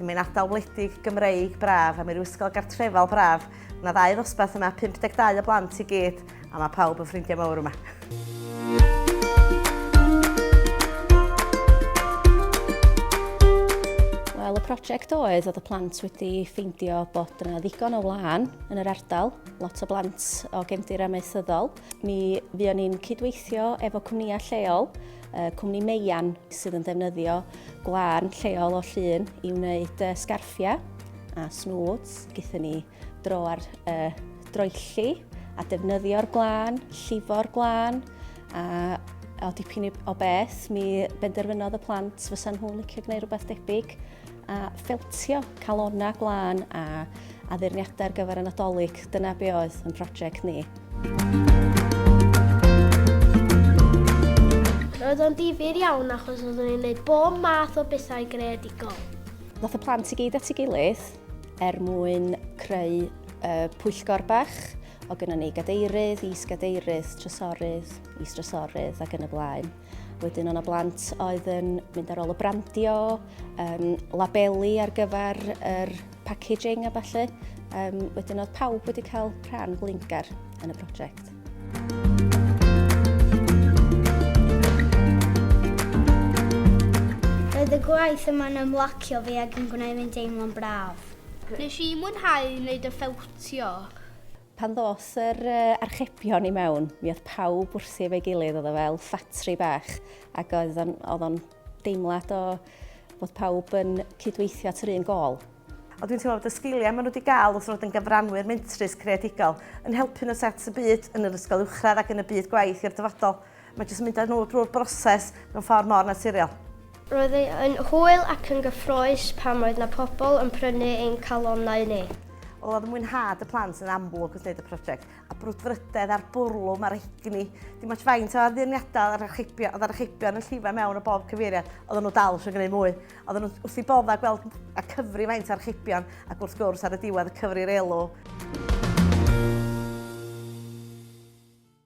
Mae'n ardal wledig Gymreig braf a mae'r ysgol gartrefol braf. Mae ddau ddosbarth yma, 52 o blant i gyd, a mae pawb yn ffrindiau mawr yma. prosiect oedd oedd y plant wedi ffeindio bod yna ddigon o wlân yn yr ardal, lot o blant o gefndir amaethyddol, Mi fuon ni'n cydweithio efo cwmnïau lleol, cwmni Meian sydd yn ddefnyddio gwlân lleol o llun i wneud sgarffiau a snwds. Gyda ni dro ar y droelli a defnyddio'r gwlân, llifo'r gwlân a o dipyn o beth mi benderfynodd y plant fysa nhw'n licio gwneud rhywbeth debyg. a ffeltio calonnau glân a addurniadau ar gyfer y Nadolig. Dyna be oedd yn prosiect ni. Roedd o'n difyr iawn achos oeddwn ni'n gwneud bob math o bethau greadigol. Nath y plant i gyd at ei gilydd er mwyn creu uh, pwyllgor bach o gynnon ni gadeirydd, is-gadeirydd, trysorydd, is-trysorydd ac yn y blaen. Wedyn o'na blant oedd yn mynd ar ôl y brandio, um, labeli ar gyfer yr packaging a falle. Um, wedyn oedd pawb wedi cael rhan blingar yn y prosiect. Roedd y gwaith yma'n ymlacio fi ac yn gwneud fi'n deimlo'n braf. Nes i mwynhau wneud y ffewtio. Pan ddos yr archebion i mewn, mi oedd pawb wrthi efo'i gilydd, oedd o fel ffatri bach, ac oedd o'n deimlad o fod pawb yn cydweithio at yr un gol. Ond dwi'n teimlo bod y sgiliau maen nhw wedi cael wrth fod yn gyfranwyr mentrus creadigol yn helpu nhw set y byd yn yr ysgol uwchradd ac yn y byd gwaith i'r dyfodol. Mae jyst yn mynd â nhw drwy'r broses mewn ffordd mor naturiol. Roedd e yn hwyl ac yn gyffrous pan oedd na pobl yn prynu ein calonnau ni. Wel, oedd mwynhad y plant yn amlwg wrth wneud y prosiect, a brwdfrydedd a'r bwrlwm a'r egni. Dim ots faint o addurniadau oedd archebion, oedd archebion yn llifo mewn o bob cyfeiriad, oedden nhw dal eisiau gwneud mwy. Oedden nhw wrth i bodda gweld a cyfri faint o archebion, ac wrth gwrs ar y diwedd y cyfri'r elw.